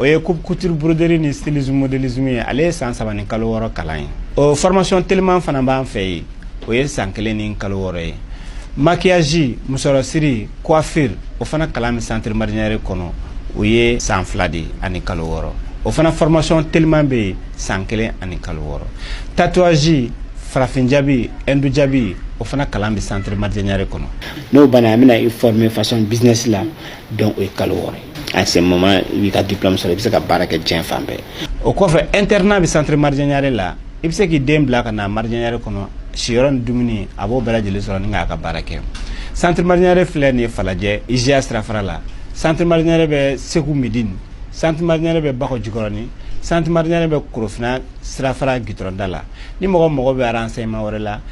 o ye coupe couture broderie ni stylisme modélisme ye ale ye san saba ni kalo wɔɔrɔ kalan ye o formation teliman fana b'an fɛ yen o ye san kelen ni kalo wɔɔrɔ ye maquillage musɔrɔsiri coiffure o fana kalan bɛ centre marjanyare kɔnɔ o ye san fila de ani kalo wɔɔrɔ o fana formation teliman bɛ yen san kelen ani kalo wɔɔrɔ tatouage farafin jabi hindu jabi o fana kalan bɛ centre marjanyare kɔnɔ n'o banna an bɛna i former façon business la donc o ye kalo wɔɔrɔ ye à ce moment i b'i ka diplôme sɔrɔ i bɛ se ka baara kɛ diɲɛ fan bɛɛ o kɔfɛ internat bɛ centre marjanyare la i bɛ se k'i den bila ka na marjanyare kɔnɔ siyɔrɔ ni dumuni a b'o bɛɛ lajɛlen sɔrɔ ni k'a ka baara kɛ centre marjanyare filɛ nin ye falajɛ IJA sirafara la centre marjanyare bɛ segu midini centre marjanyare bɛ bakɔ jikɔrɔni centre marjanyare bɛ korofina sirafara gitɔrɔn da la ni mɔgɔ mago bɛ renseignement wɛrɛ la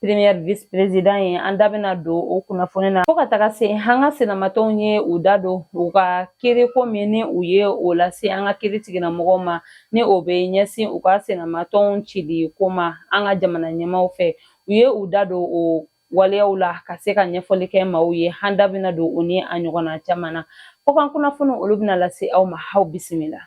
Premier vice president ye an da bɛna don o kunnafoni na fo ka taga se an ka senamatɔnw ye u da don u ka kiiri ko min ni u ye o lase an ka kiiri tigilamɔgɔw ma ni o bɛ ɲɛsin u ka senamatɔnw cili ko ma an ka jamana ɲɛmaw fɛ u ye u da don o waleyaw la ka se ka ɲɛfɔli kɛ maaw ye an da bɛna don o ni a ɲɔgɔnna caman na Kɔkan kunnafoni olu bɛna lase aw ma aw bisimila.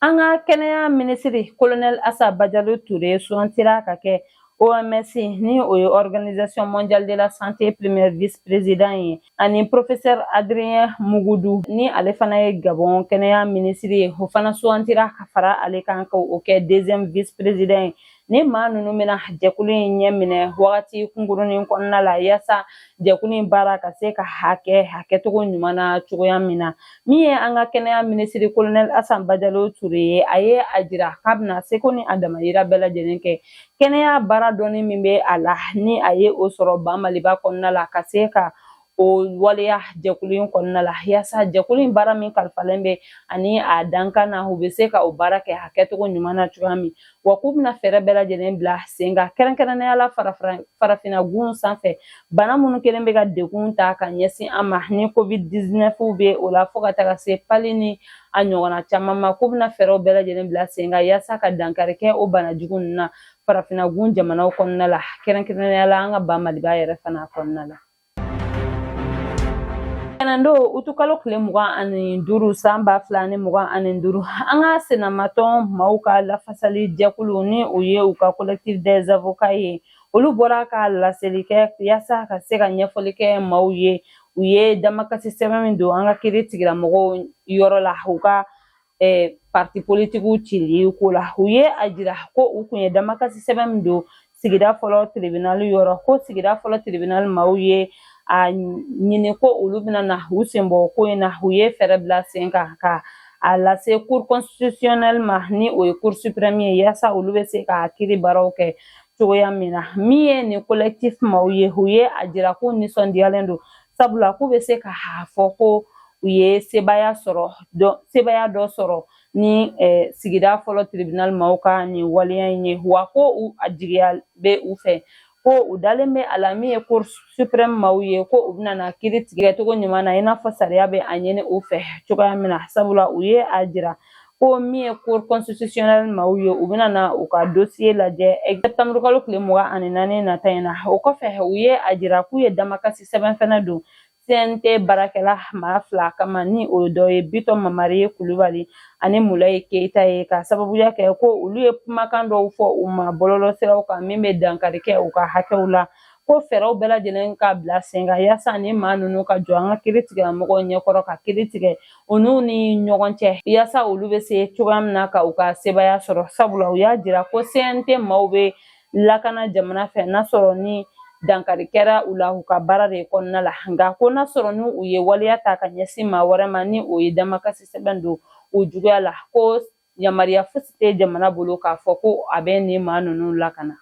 An ka kɛnɛya minisiri kolonɛli Asa Bajalo Ture sugantira ka kɛ OMS ni o ye Organisation mondiale de la santé premier vice président ye ani professeur Adrien Mugudu ni ale fana ye Gabon kɛnɛya minisiri ye o fana sugantira ka fara ale kan ka o kɛ deuxième vice président ye Ni maa ninnu bɛna jɛkulu in ɲɛ minɛ wagati kunkurunin kɔnɔna la yasa jɛkulu in baara ka se ka a kɛ a kɛcogo ɲuman na cogoya min na min ye an ka kɛnɛya minisiri kolonɛl asa bajalo ture ye a ye a jira k'a bɛna seko ni a damayira bɛɛ lajɛlen kɛ kɛnɛya baara dɔnni min bɛ a la ni a ye o sɔrɔ ba maliba kɔnɔna la ka se ka o waleya jɛkulu in kɔnɔna la yaasa jɛkulu in baara min kalifalen bɛ a ni a dankan na u bɛ se ka o baara kɛ a kɛcogo ɲuman na cogoya min wa k'u bɛna fɛɛrɛ bɛɛ lajɛlen bila sen kan kɛrɛnkɛrɛnnenya la farafinna gun sanfɛ bana minnu kɛlen bɛ ka degun ta ka ɲɛsin an ma ni covid 19 bɛ o la fo ka taga se palu ni a ɲɔgɔnna caman ma k'u bɛna fɛɛrɛw bɛɛ lajɛlen bila sen kan yaasa ka dankari kɛ o bana jugu ninnu na farafinna gun jamanaw kɔnɔna la kɛrɛnkɛrɛnnenya la an ka ba maliba yɛrɛ fana kɔnɔna la Tɛnɛndon utukalo kile mugan ani duuru san ba fila ni mugan ani duuru an ka senamatɔn maaw ka lafasali jɛkulu ni o ye u ka collectif des avocats ye olu bɔra ka laseli kɛ yaasa ka se ka ɲɛfɔli kɛ maaw ye u ye damakasi sɛbɛn min don an ka kiiri tigilamɔgɔw yɔrɔ la u ka eh, parti politikiw cili ko la u ye a jira ko u kun ye damakasi sɛbɛn min don sigida fɔlɔ tribinali yɔrɔ ko sigida fɔlɔ tribinali maaw ye a ɲini ko olu bɛna na u senbɔ ko in na u ye fɛɛrɛ bila sen kan ka a lase cour constitutionnel ma ni o ye cour supreme ye yaasa olu bɛ se ka kiri baaraw kɛ cogoya min na min ye nin collectif maaw ye u ye a jira ko nisɔndiyalen don sabula k'u bɛ se k'a fɔ ko u ye sebaaya sɔrɔ sebaaya dɔ sɔrɔ ni sigida fɔlɔ tiribinali maaw ka nin waleya in ye wa ko a jigiya bɛ u fɛ ko u dalen bɛ a la min ye cour supreme maaw ye ko u bɛna na kiiri tigɛ cogo ɲuman na i n'a fɔ sariya bɛ a ɲini u fɛ cogoya min na sabula u ye a jira ko min ye cour constitutionnel maaw ye u bɛna na u ka dosiye lajɛ sɛtanburukalo tile mugan ani naani nata in na o kɔfɛ u ye a jira k'u ye damakasi sɛbɛn fɛnɛ don CNT baarakɛla maa fila kama ni o dɔ ye Bitɔn Mamari ye Kulubali ani Mulaye Keyita ye k'a sababuya kɛ ko olu ye kumakan dɔw fɔ u ma bɔlɔlɔsiraw kan min bɛ dankari kɛ u ka hakɛw la ko fɛɛrɛw bɛɛ lajɛlen ka bila sen kan yaasa ni maa ninnu ka jɔ an ka kiri tigilamɔgɔw ɲɛkɔrɔ ka kiri tigɛ u n'u ni ɲɔgɔn cɛ yaasa olu bɛ se cogoya min na ka u ka sebaaya sɔrɔ sabula u y'a jira ko CNT maaw bɛ lakana jamana fɛ n'a sɔrɔ ni dankari kɛra u la u ka baara de kɔnɔna la nka ko n'a sɔrɔ ni u ye waleya ta ka ɲɛsin maa wɛrɛ ma ni o ye damakasi sɛbɛn don o juguya la ko yamaruya fosi tɛ jamana bolo k'a fɔ ko a bɛ nin maa ninnu lakana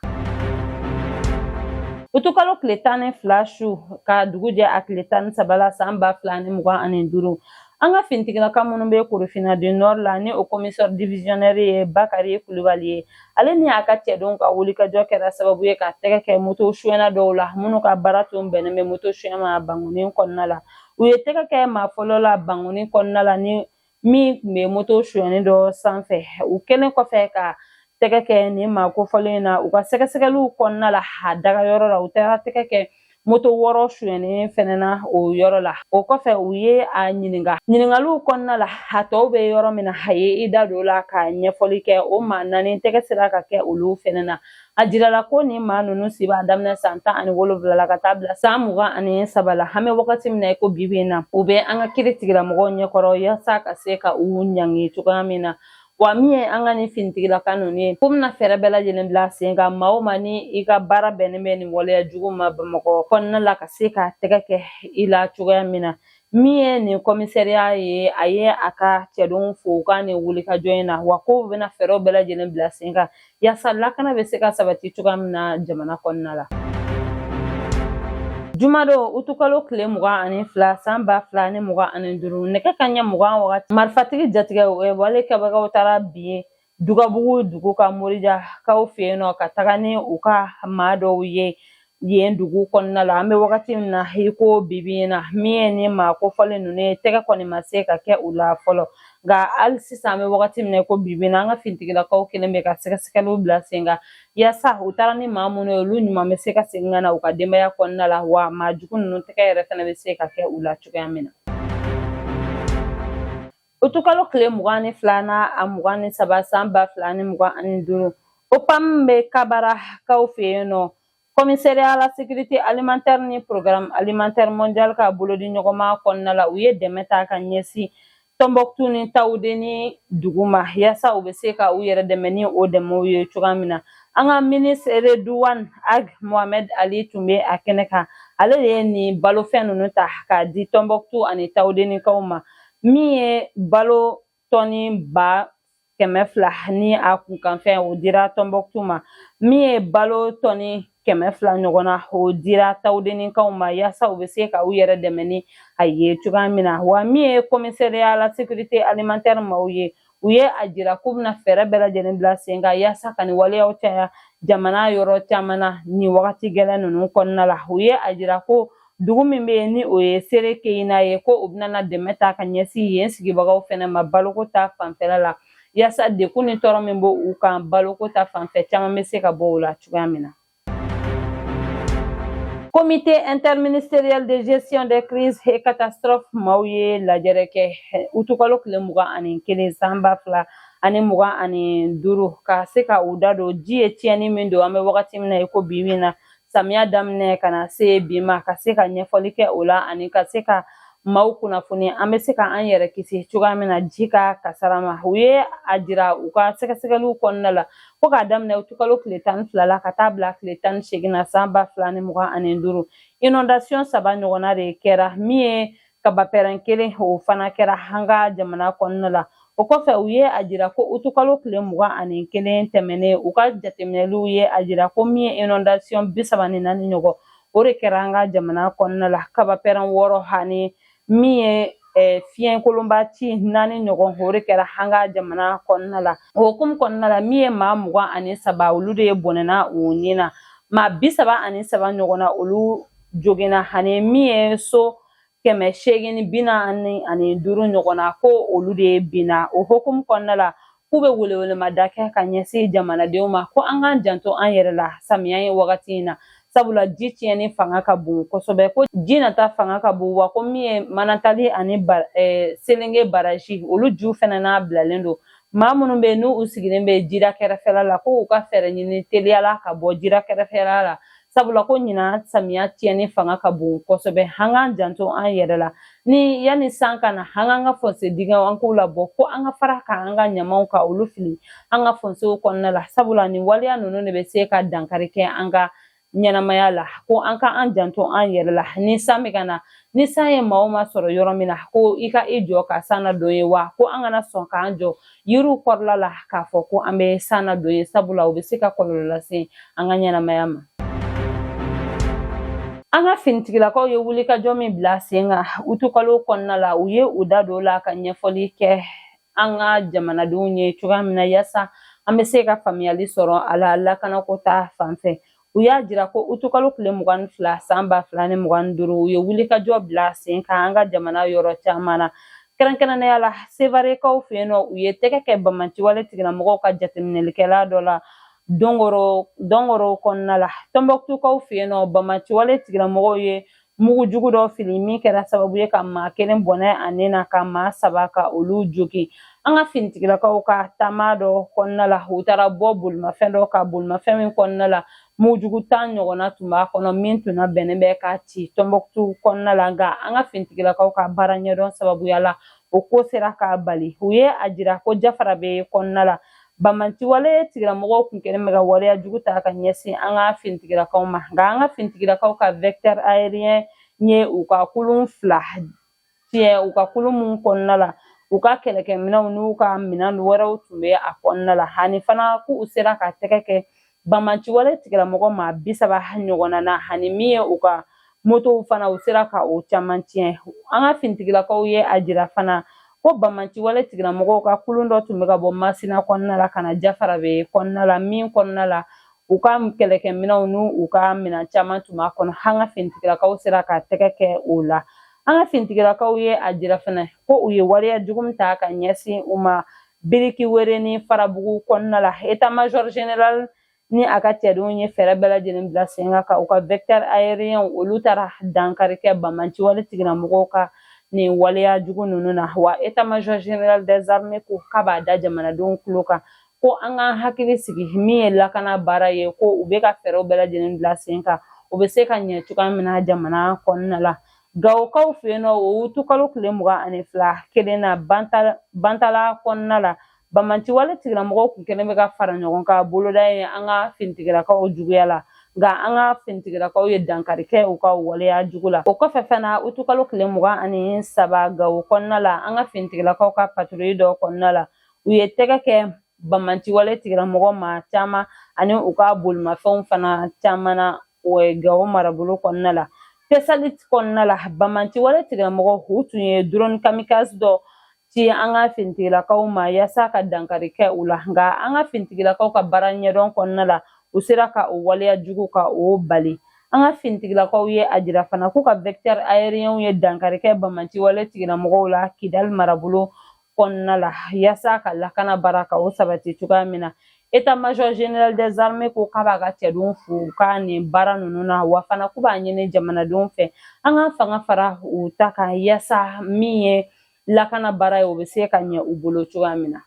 utukalo tile tan ni fila su ka dugu jɛ a tile tan ni saba la saan ba fila ni mugan ani duuru an ka finitigilaka minnu bɛ korofina du nord la ni o komisɛri divisionɛri ye bakari kulubali ye ale ni a ka cɛdenw ka wulikajɔ kɛra sababu ye ka tɛgɛ kɛ moto suyɛna dɔw la minnu ka baara tun bɛnnen bɛ moto suyɛ ma bankoni kɔnɔna la u ye tɛgɛ kɛ maa fɔlɔ la bankoni kɔnɔna la ni min tun bɛ moto sonyɛnen dɔ sanfɛ u kɛlen kɔfɛ ka tɛgɛ kɛ nin maa kofɔlen in na u ka sɛgɛsɛgɛliw kɔnɔna la a dagayɔrɔ la u taara tɛgɛ kɛ moto wɔɔrɔ sonyɛnen fɛnɛ na o yɔrɔ la o kɔfɛ u ye a ɲininka ɲininkaliw kɔnɔna la a tɔw bɛ yɔrɔ min na a ye i da don o la ka ɲɛfɔli kɛ o maa naani tɛgɛ sera ka kɛ olu fɛnɛ na a jirala ko nin maa ninnu si b'a daminɛ san tan ani wolonfila la ka taa bila san mugan ani saba la an bɛ wagati min na i ko bi bi in na u bɛ an ka kiri tigilamɔgɔw ɲɛkɔrɔ yaasa ka se ka u ɲangi cogoya min na wa min ye an ka nin finitigilaka ninnu ye k'u bɛna fɛɛrɛ bɛɛ lajɛlen bila sen kan maa o maa ni i ka baara bɛnnen bɛ nin waleya jugu ma bamakɔ kɔnɔna la ka se ka tɛgɛ kɛ i la cogoya min na Min ye nin kɔmisariya ye a ye a ka cɛdenw fo u ka nin wulikajɔ in na wa k'u bɛna fɛɛrɛw bɛɛ lajɛlen bila sen kan yaasa lakana bɛ se ka sabati cogoya min na jamana kɔnɔna la jumadon utukalo tile mugan ani fila san ba fila ni mugan ani duuru nɛgɛ kanɲɛ mugan wagati marifatigi jatigɛwale kɛbagaw taara bin ye dugabugu dugu kan murujakaw fɛ yen nɔ ka taga ni u ka maa dɔw ye yen dugu kɔnɔna la an bɛ wagati min na i ko bibi in na min ye ni maa kofɔlen ninnu ye tɛgɛ kɔni ma se ka kɛ u la fɔlɔ nka hali sisan an bɛ wagati min na i ko bibi in na an ka finitigilakaw kɛlen bɛ ka sɛgɛsɛgɛliw bila sen kan yaasa u taara ni maa minnu ye olu ɲuman bɛ se ka segin ka na u ka denbaya kɔnɔna la wa maa jugu ninnu tɛgɛ yɛrɛ fana bɛ se ka kɛ u la cogoya min na Utukalo tile mugan ni fila ni a mugan ni saba san ba fila ni mugan ani duuru opam bɛ kabarakaw fɛ yen nɔ commissariat à la sécurité alimentaire ni programme alimentaire mondial ka bolodi ɲɔgɔnma kɔnɔna la u ye dɛmɛ ta ka ɲɛsin tɔnbɔkutu ni tawudeni dugu ma yaasa u bɛ se ka u yɛrɛ dɛmɛ ni o dɛmɛw ye cogoya min na an ka minisiri reduwan ag mohamɛd ali tun bɛ a kɛnɛ kan ale de ye nin balofɛn ninnu ta k'a di tɔnbɔkutu ani tawudenikaw ma min ye balo tɔni ba kɛmɛ fila ni a kunkanfɛn o dira tɔnbɔkutu ma min ye balo tɔni kɛmɛ fila ɲɔgɔn na o dira tawudenikaw ma yaasa u bɛ se ka u yɛrɛ dɛmɛ ni a ye cogoya min na wa min ye commissariat à la sécurité alimentaire maaw ye u ye a jira k'u bɛna fɛɛrɛ bɛɛ lajɛlen bila sen kan yaasa ka nin waleyaw caya jamana yɔrɔ caman na nin wagati gɛlɛn ninnu kɔnɔna la u ye a jira ko dugu min bɛ yen ni o ye sere keyina ye ko u bɛna dɛmɛ ta ka ɲɛsin yen sigibagaw fana ma baloko ta fanfɛla la yaasa degun ni tɔɔrɔ min b'u kan baloko ta fanfɛ caman bɛ se ka bɔ o la cogoya min na comité interministériel de gestion des crises et catastrophes maaw ye lajɛrɛ kɛ utukalo tile mugan ani kelen san ba fila ani mugan ani duuru ka se ka u da don ji ye tiɲɛni min don an bɛ wagati min na i ko bi min na samiya daminɛ ka na se bi ma ka se ka ɲɛfɔli kɛ o la ani ka se ka maaw kunnafoni an bɛ se ka an yɛrɛ kisi cogoya min na ji ka kasara ma u ye a jira u ka sɛgɛsɛgɛliw kɔnɔna la fo k'a daminɛ utukalo tile tan ni fila la ka taa bila tile tan ni segin na san ba fila ni mugan ani duuru inondation saba ɲɔgɔnna de kɛra min ye kabapɛrɛn kelen o fana kɛra an ka jamana kɔnɔna la o kɔfɛ u ye a jira ko utukalo tile mugan ani kelen tɛmɛnen u ka jateminɛliw ye a jira ko min ye inondation bi saba ni naani ɲɔgɔn o de kɛra an ka jamana kɔnɔna la kabapɛrɛn wɔɔrɔ ani min ye eh, fiɲɛkolonba ci naani ɲɔgɔn o de kɛra an ka jamana kɔnɔna la o hukumu kɔnɔna la min ye maa mugan ani saba olu de ye bɔnɛna u ni na maa bi saba ani saba ɲɔgɔn na olu joginna ani min ye so kɛmɛ seegin ni bi naani ani duuru ɲɔgɔn na ko olu de ye binna o hukumu kɔnɔna la k'u bɛ welewelemada kɛ ka ɲɛsin jamanadenw ma ko an k'an janto an yɛrɛ la samiya ye wagati in na sabula ji tiɲɛni fanga ka bon kosɛbɛ ko ji nata fanga ka bon wa ko min ye manantali ani eh, selenge baraji olu ju fɛnɛ labilalen don maa minnu bɛ yen n'u sigilen bɛ jira kɛrɛfɛla la ko u ka fɛɛrɛ ɲini teliya la ka bɔ jira kɛrɛfɛla la sabula ko ɲinan samiya tiɲɛni fanga ka bon kosɛbɛ an k'an janto an yɛrɛ la ni yanni san ka na an k'an ka fɔnse dingɛw an k'u labɔ ko an ka fara ka an ka ɲamaw ka olu fili an ka fɔnsew kɔnɔna la sabula nin waleya ninnu de bɛ se ka dankari kɛ an ka ɲɛnamaya la ko an ka an janto an yɛrɛ la ni san bɛ ka na ni san ye maa o maa sɔrɔ yɔrɔ min na ko i ka i jɔ ka san na don ye wa ko an kana sɔn k'an jɔ yiriw kɔrɔla la k'a fɔ ko an bɛ san na don ye sabula u bɛ se ka kɔlɔlɔ lase an ka ɲɛnamaya ma an ka finitigilakaw ye wulikajɔ min bila sen kan utukalo kɔnɔna la u ye u da don la ka ɲɛfɔli kɛ an ka jamanadenw ye cogoya min na yaasa an bɛ se ka faamuyali sɔrɔ a la lakanako ta fanfɛ u y'a jira ko utukalo tile mugan ni fila san ba fila ni mugan ni duuru u ye wulikajɔ bila sen kan an ka jamana yɔrɔ caman na kɛrɛnkɛrɛnnenya la sevarekaw fɛ yen nɔ u ye tɛgɛ kɛ banbaanciwale tigilamɔgɔw ka jateminɛlikɛla dɔ la dɔngoro kɔnɔna la tɔnbɔkutukaw fɛ yen nɔ banbaanciwale tigilamɔgɔw ye mugu jugu dɔ fili min kɛra sababu ye ka maa kelen bɔnɛ a ni na ka maa saba ka olu jogin an ka finitigilakaw ka taama dɔ kɔnɔna la u taara bɔ bolimafɛn dɔ kan bolimafɛn min kɔnɔna la mugujugu tan ɲɔgɔnna tun b'a kɔnɔ min tun labɛnnen bɛ ka ci tɔnbɔkutu kɔnɔna la nka an ka finitigilakaw ka baara ɲɛdɔn sababuya la o ko sera ka bali u ye a jira ko jafarabɛ kɔnɔna la Banbaanciwale tigilamɔgɔw tun kɛlen bɛ ka waleya jugu ta ka ɲɛsin an ka finitigilakaw ma nka an ka finitigilakaw ka vecteur aérien ye u ka kulun fila tiɲɛ u ka kulun minnu kɔnɔna la u ka kɛlɛkɛminɛnw n'u ka minɛn wɛrɛw tun bɛ a kɔnɔna la ani fana k'u sera ka tɛgɛ kɛ Banbaanciwale tigilamɔgɔ maa bi saba ɲɔgɔnna na ani min ye u ka motow fana u sera ka o caman tiɲɛ an ka finitigilakaw ye a jira fana ko banbaanciwale tigilamɔgɔw ka kulun dɔ tun bɛ ka bɔ masina kɔnɔna la ka na jafarabɛ kɔnɔna la min kɔnɔna la u ka kɛlɛkɛminɛnw ni u ka minɛn caman tun b'a kɔnɔ an ka finitigilakaw sera ka tɛgɛ kɛ o la an ka finitigilakaw ye a jira fana ko u ye waleya jugu min ta ka ɲɛsin u ma biriki were ni farabugu kɔnɔna la état major général ni a ka cɛdenw ye fɛɛrɛ bɛɛ lajɛlen bila sen kan ka u ka vecteurs aériens olu taara dankari kɛ banbaanci wale tigilamɔgɔw ka nin waleya jugu ninnu na wa état major général des armées ko k'a b'a da jamanadenw tulo kan ko an k'an hakili sigi min ye lakana baara ye ko u bɛ ka fɛɛrɛw bɛɛ lajɛlen bila sen kan o bɛ se ka ɲɛ cogoya min na jamana kɔnɔna la Gawokaw fɛ yen nɔ o utukalo tile mugan ani fila kelen na bantala kɔnɔna la banbaanci wale tigilamɔgɔw tun kɛlen bɛ ka fara ɲɔgɔn kan boloda ye an ka finitigilakaw juguya la nka an ka finitigilakaw ye dankari kɛ u ka waleya jugu la o kɔfɛ fana utukalo tile mugan ani saba gawo kɔnɔna la an ka finitigilakaw ka patrouille dɔ kɔnɔna la u ye tɛgɛ kɛ banbaanci wale tigilamɔgɔ maa caman ani u ka bolimafɛnw fana caman na o ye gawo marabolo kɔnɔna la tesalit kɔnɔna la banbaanci wale tigilamɔgɔw u tun ye drone kamikaze dɔ ci an ka finitigilakaw ma yaasa ka dankari kɛ u la nka an ka finitigilakaw ka baara ɲɛdɔn kɔnɔna la u sera ka o waleya jugu ka o bali an ka finitigilakaw ye a jira fana k'u ka vecteurs aériens ye dankari kɛ banbaanci wale tigilamɔgɔw la kidali marabolo kɔnɔna la yaasa ka lakana baara ka o sabati cogoya min na état major général des armées ko k'a b'a ka cɛdenw fo u ka nin baara ninnu na wa fana k'u b'a ɲini jamanadenw fɛ an ka fanga fara u ta kan yaasa min ye lakana baara ye o bɛ se ka ɲɛ u bolo cogoya min na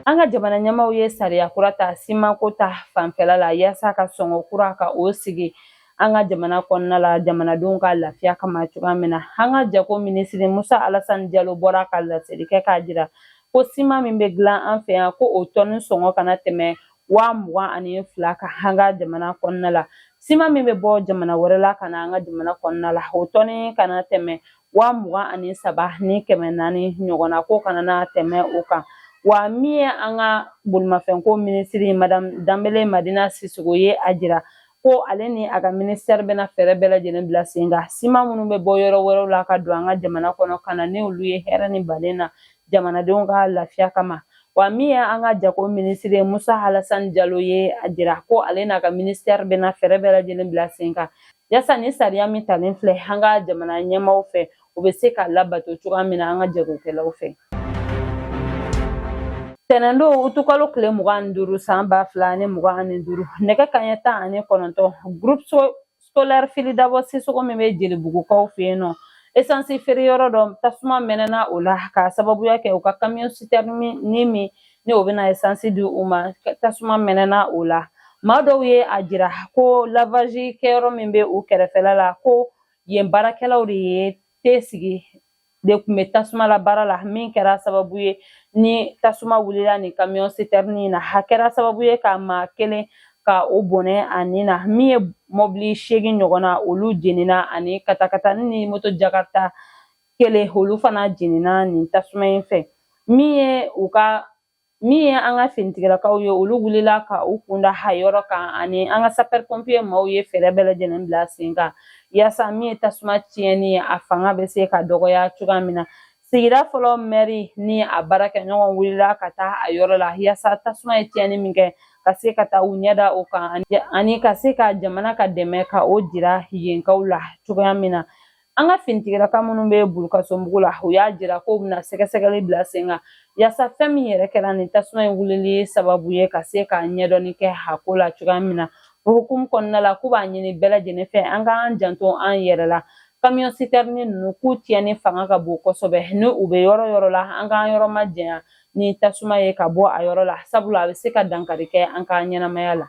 an ka jamana ɲɛmaaw ye sariya kura ta simanko ta fanfɛla la yaasa ka sɔngɔ kura ka o sigi an ka jamana kɔnɔna la jamanadenw ka lafiya kama cogoya min na an ka jago minisiri musa alasani jalo bɔra ka laseli kɛ k'a jira ko siman min bɛ dilan an fɛ yan ko o tɔni sɔngɔ kana tɛmɛ waa mugan ani fila kan an ka jamana kɔnɔna la siman min bɛ bɔ jamana wɛrɛ la ka na an ka jamana kɔnɔna la o tɔni kana tɛmɛ waa mugan ani saba ni kɛmɛ naani ɲɔgɔnna ko kana na tɛmɛ o kan wa min ye an ka bolimafɛnko minisiri madamu danbele madina sisoko ye a jira ko ale ni a ka ministère bɛna fɛɛrɛ bɛɛ lajɛlen bila sen kan siman minnu bɛ bɔ yɔrɔ wɛrɛw la ka don an ka jamana kɔnɔ ka na ni olu ye hɛrɛ ni balen na jamanadenw ka lafiya kama wa min ye an ka jago minisiri musa alasani jalo ye a jira ko ale n'a ka ministère bɛna fɛɛrɛ bɛɛ lajɛlen bila sen kan yaasa nin sariya min talen filɛ an ka jamana ɲɛmaaw fɛ o bɛ se ka labato cogoya min na an ka jagokɛlaw fɛ tɛnɛndon utukalo tile mugan ni duuru san ba fila ni mugan ani duuru nɛgɛ kanɲɛ tan ani kɔnɔntɔn groupe scolaire fili dabo sisoko min bɛ jelibugukaw fɛ yen nɔ esansi feereyɔrɔ dɔ tasuma mɛnɛna o la k'a sababuya kɛ u ka kamiyɔn sitɛrini min ni o bɛna esansi di u ma tasuma mɛnɛna o la maa dɔw ye a jira ko lavazi kɛyɔrɔ min bɛ u kɛrɛfɛla la ko yen baarakɛlaw de ye te sigi te kun bɛ tasuma la baara la min kɛra sababu ye ni tasuma wulila nin kamiyɔn sitɛrini in na a kɛra sababu ye ka maa kelen ka o bɔnɛ a ni na min ye mɔbili seegin ɲɔgɔn na olu jenina ani katakatani ni moto jakarita kelen olu fana jenina nin tasuma in fɛ min ye u ka min ye an ka finitigilakaw ye olu wulila ka u kunda a yɔrɔ kan ani an ka sapɛri pɔnpiye maaw ye fɛɛrɛ bɛɛ lajɛlen bila sen kan yaasa min ye tasuma tiɲɛni ye a fanga bɛ se ka dɔgɔya cogoya min na sigida fɔlɔ mɛri ni a baarakɛɲɔgɔn wulila ka taa a yɔrɔ la yaasa tasuma ye tiɲɛni min kɛ ka se ka taa u ɲɛda o kan ani ka se ka jamana ka dɛmɛ ka o jira yenkaw la cogoya min na an ka finitigilaka minnu bɛ bulukasunbugu la u y'a jira k'u bɛna sɛgɛsɛgɛli bila sen kan yaasa fɛn min yɛrɛ kɛra nin tasuma in wulili sababu ye ka se ka ɲɛdɔnni kɛ a ko la cogoya min na o hukumu kɔnɔna la k'u b'a ɲini bɛɛ lajɛlen fɛ an k'an janto an yɛrɛ la kamiyɔn sitɛrini ninnu k'u tiɲɛni fanga ka bon kosɛbɛ ni u bɛ yɔrɔ yɔrɔ la an k'an yɔrɔ majanya ni tasuma ye ka bɔ a yɔrɔ la sabula a bɛ se ka dankari kɛ an ka ɲɛnamaya la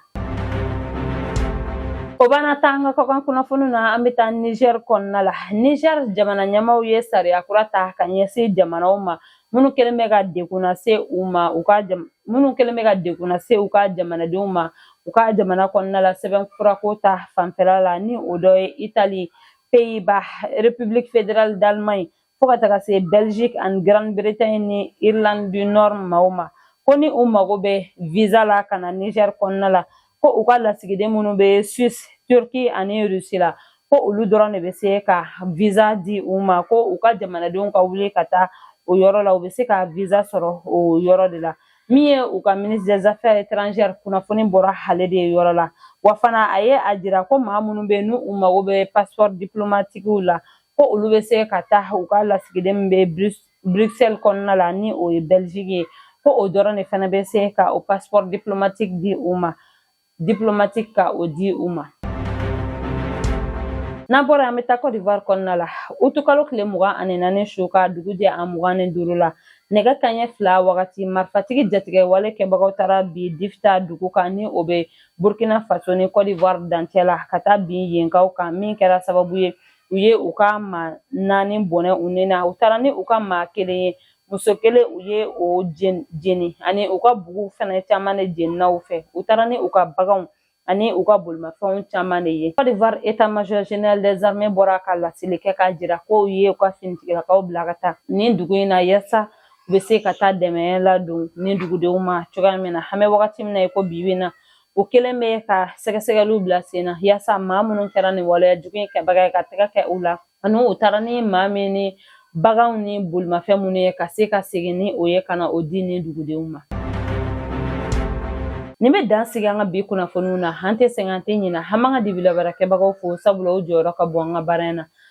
o b'an ta an ka kɔkan kunnafoniw na an bɛ taa nizɛri kɔnɔna la nizɛri jamana ɲɛmaaw ye sariya kura ta ka ɲɛsin jamanaw ma minnu kɛlen bɛ ka degun lase u ma u ka minnu kɛlen bɛ ka degun lase u ka jamanadenw ma u ka jamana kɔnɔna la sɛbɛnfurako ta fanfɛla la ni o dɔ ye itali peyiba republiki federali dalimaɲi fo ka taga se belgique ani grande bretagne ni irlande du nord maaw ma ko ni u mago bɛ visa la ka na niger kɔnɔna la ko u ka lasigiden minnu bɛ suisse turquie ani russie la ko olu dɔrɔn de bɛ se ka visa di u ma ko u ka jamanadenw ka wuli ka taa o yɔrɔ la u bɛ se ka visa sɔrɔ o yɔrɔ de la min ye u ka ministre des affaires étrangères kunnafoni bɔra ale de yɔrɔ la wa fana a ye a jira ko maa minnu bɛ yen n'u mago bɛ passeport diplomatiquew la ko olu bɛ se ka taa u ka lasigiden min bɛ Bruxelles kɔnɔna la ni o ye Belgique ye ko o dɔrɔn de fana bɛ se ka o passeport diplomatique di diplomatique ka o di u ma. N'an bɔra an bɛ taa Cote d'Ivoire kɔnɔna la utukalo tile mugan ani naani su ka dugu jɛ a mugan ni duuru la nɛgɛ kanɲɛ fila wagati marifatigi jatigɛwale kɛbagaw taara bin difita dugu kan ni o bɛ burkina faso ni cote d'ivoire dancɛ la ka taa bin yenkaw kan min kɛra sababu ye u ye u ka maa naani bɔnɛ u ni na u taara ni u ka maa kelen ye muso kelen u ye o jeni ani u ka bugu fɛnɛ caman de jenina u fɛ u taara ni u ka baganw ani u ka bolimafɛnw caman de ye Côte d'Ivoire état major général des armées bɔra ka laseli kɛ k'a jira k'u ye u ka finitigilakaw bila ka taa nin dugu in na yaasa u bɛ se ka taa dɛmɛ ladon nin dugudenw ma cogoya min na an bɛ wagati min na i ko bi bi in na u kɛlen bɛ ka sɛgɛsɛgɛliw bila sen na yaasa maa minnu kɛra nin waleya jugu in kɛbaga ye ka tɛgɛ kɛ u la ani u taara ni maa min ni baganw ni bolimafɛn minnu ye ka se ka segin ni o ye ka na o di nin dugudenw ma nin bɛ dan sigi an ka bi kunnafoniw na an tɛ sɛgɛn an tɛ ɲinɛ an b'an ka dibilabaarakɛbagaw fo sabula o jɔyɔrɔ ka bon an ka baara in na